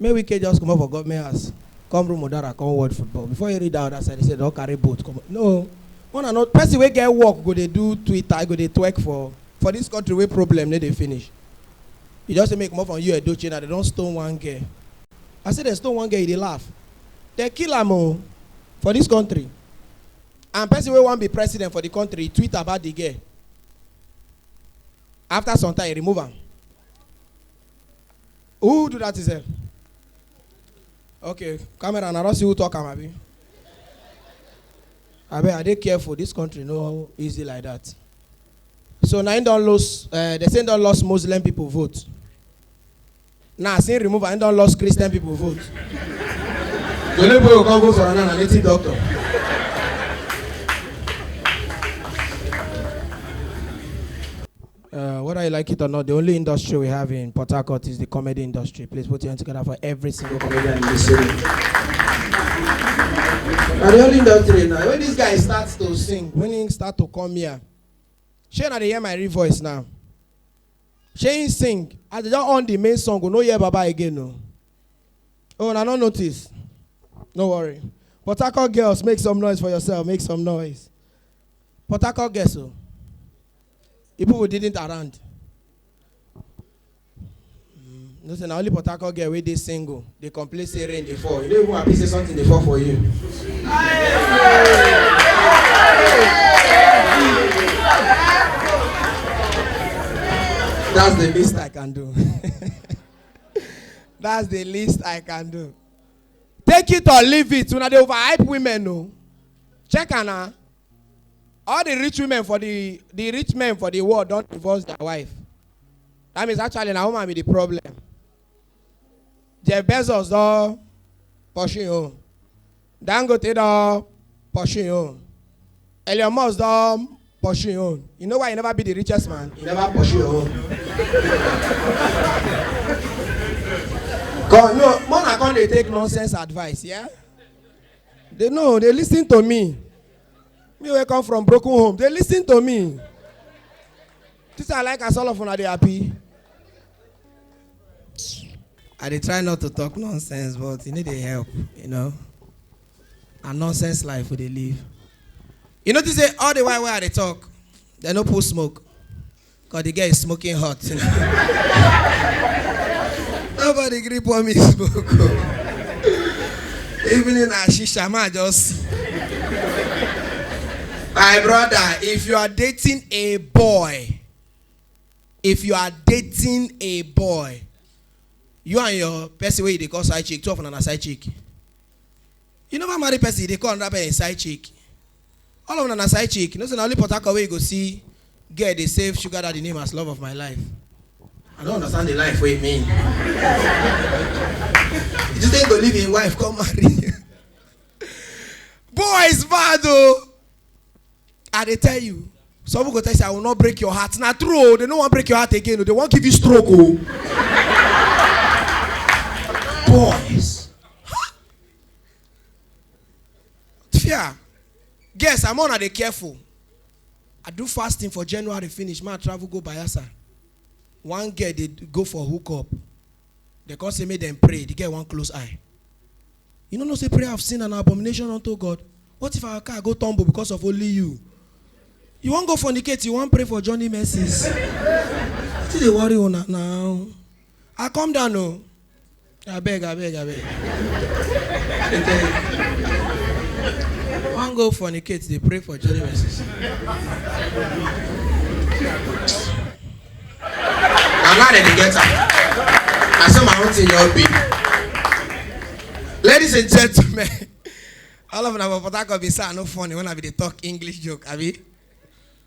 Make Wike just comot for government house come room Udara come watch football before you read that other side they say don carry boat come no one and not person wey get work go dey do Twitter go dey twerk for for this country wey problem no dey finish you just say make comot from you Edochie na they don stone one girl I say they stone one girl you dey laugh they kill am o for this country and person wey wan be president for the country tweet about the girl after some time he remove am Who do that itself? Okay, camera, and I don't see who talk am abi. Abeg, I dey careful. This country no easy like that. So na him don lose, uh, they say him don lost Muslim people vote. Na as him remove am, him don lost Christian people vote. Jolly boy go come vote for another native doctor. Uh, whether you like it or not, the only industry we have in Port Harcourt is the comedy industry. Please put your hands together for every single comedian in this city. Now the only industry now, when this guy starts to sing, when he start to come here, shey na dey hear my real voice now. Shey he sing, as they don on the main song, we no hear Baba again o. Oh, na no notice. No worry. Port Harcourt girls, make some noise for yourself, make some noise. Port Harcourt girls o. You people didn't around. Mm, No say na only Port Harcourt girl wey dey single dey complain say rain dey fall. You no even happy say something dey fall for you. That's the least I can do. That's the least I can do. Take it or leave it. Una dey overhype women o. Check am na. all the rich women for the the rich men for the world don divorce their wife that means actually na woman be the problem jeff bezos don pursue him own dangote don pursue him own elon musk don pursue him own you know why he never be the richest man he never pursue him own come no more na come dey take nonsense advice yeah. They know, they listen to me. Me wey come from broken home, they listen to me. This I like as all of una dey happy. I dey try not to talk nonsense, but you need the help, you know. A nonsense life we dey live. You notice say all the while wey I dey talk, they no pull smoke. Cause the girl is smoking hot. Nobody gree pour me smoke. Even in Ashisha, ma just. My brother, if you are dating a boy, if you are dating a boy, you and your person where you dey call side chick, two of una na side chick. You never marry person you dey call another person your side chick. All of una na side chick. You know say na only Port Harcourt wey you go see girl dey save sugar daddy name as love of my life. I no understand the life wey e mean. You just think go leave im wife come marry you. Boys bad o. I dey tell you. Some people go tell you say I will not break your heart. Na true o, they no wan break your heart again o, they wan give you stroke o. Boys. fear guess i'm on i dey careful i do fasting for january finish ma travel go bayelsa one girl dey go for hook up dem come say make dem pray the girl wan close eye you no know say prayer of sin and abomination unto god what if our car go tumble because of only you you wan go fornicate you wan pray for johnny mercies wetin dey worry una now i come down o. I beg, I beg, I beg. I wan go fornicate, dey pray for Johnny Mercies. na now dem dey get am na so my own thing just be ladies and gentlemen all of una for port harcourt be say i no funny when i be dey talk english joke abi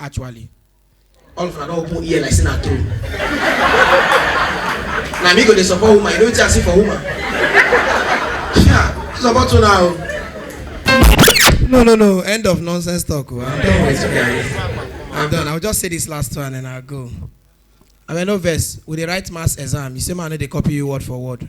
actually all of una don open ear like say na true na me go dey support woman you know wetin i see for woman yeah support una o. no no no end of nonsense talk o i'm done with you guys i'm done i will just say this last one and i go abeg no vex we dey write maths exam you say ma i no dey copy you word for word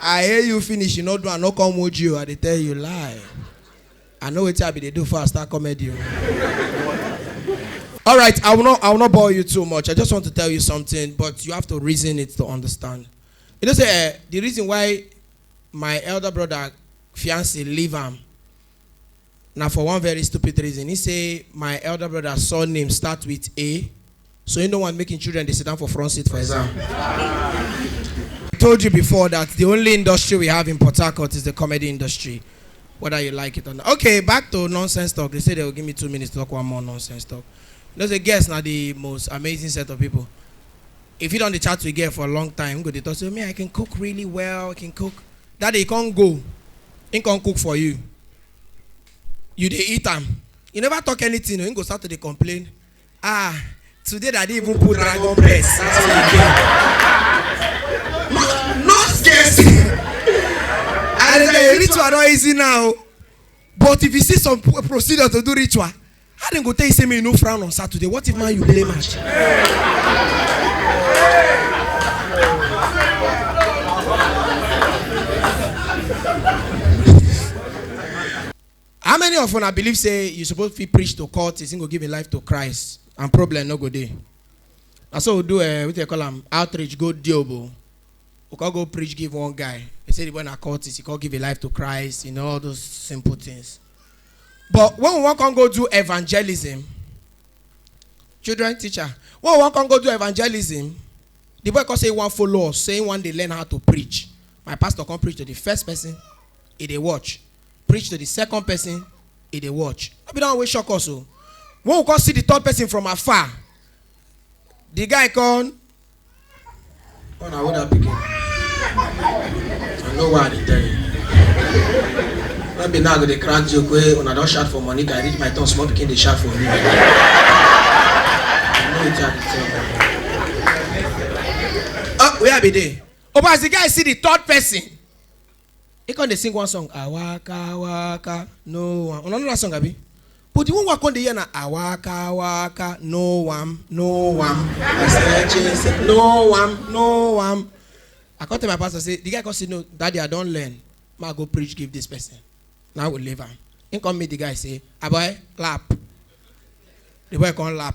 I hail you finish you no do am no come wound you I dey tell you lie. I know wetin I be dey do for I start comedy o. All right, I will not I will not bore you too much. I just want to tell you something, but you have to reason it to understand. You know say eh, the reason why my elder brother fiance leave am Na for one very stupid reason, he say my elder brother surname start with A, so he no want make him children dey sit down for front seat for exam. I told you before that the only industry we have in Port Harcourt is the comedy industry, whether you like it or not. Okay, back to nonsense talk. They say they will give me two minutes to talk one more nonsense talk. You know, say guests na the most amazing set of people. If you don dey chat with girl for a long time, go dey talk say, me, I can cook really well, I can cook. That day you come go, him come cook for you. You dey eat am. You never talk anything, him go start to dey complain. Ah, today that they even put dragon breast. That's what you get. No, no scarcity. And the ritual not easy now. But if you see some pro- procedure to do ritual, How dem go tell you say make you no frown on Saturday? What if man you play match? How many of una believe say you suppose fit preach to court, is go give a life to Christ and problem no go dey? Na so we do uh, what they call am outreach go diobo. We can go preach give one guy. He say the boy na cultist, he can give a life to Christ, you know all those simple things. but when we wan come go do evangelism children teacher when we wan come go do evangelism the boy come say he wan follow us say he wan dey learn how to preach my pastor come preach to the first person he dey watch preach to the second person he dey watch no be that one wey shock us o when we come see the third person from afar the guy come Oh, now what that picking? I know why they tell you. Not be now go dey crack joke wey una don shout for money guy reach my turn small pikin dey shout for me. I know wetin I dey tell you. Oh, where I be dey? Oh, but as the guy see the third person, He come dey sing one song, I waka waka, no one. Una know that song abi? But the one wey I come dey hear na I waka waka, no one, no one. I stretch it, say, no one, no one. I come tell my pastor say, the guy come say, no, daddy, I don learn. Ma go preach give this person. Now I go leave am. He come meet the guy say, aboy, clap. The boy come lap.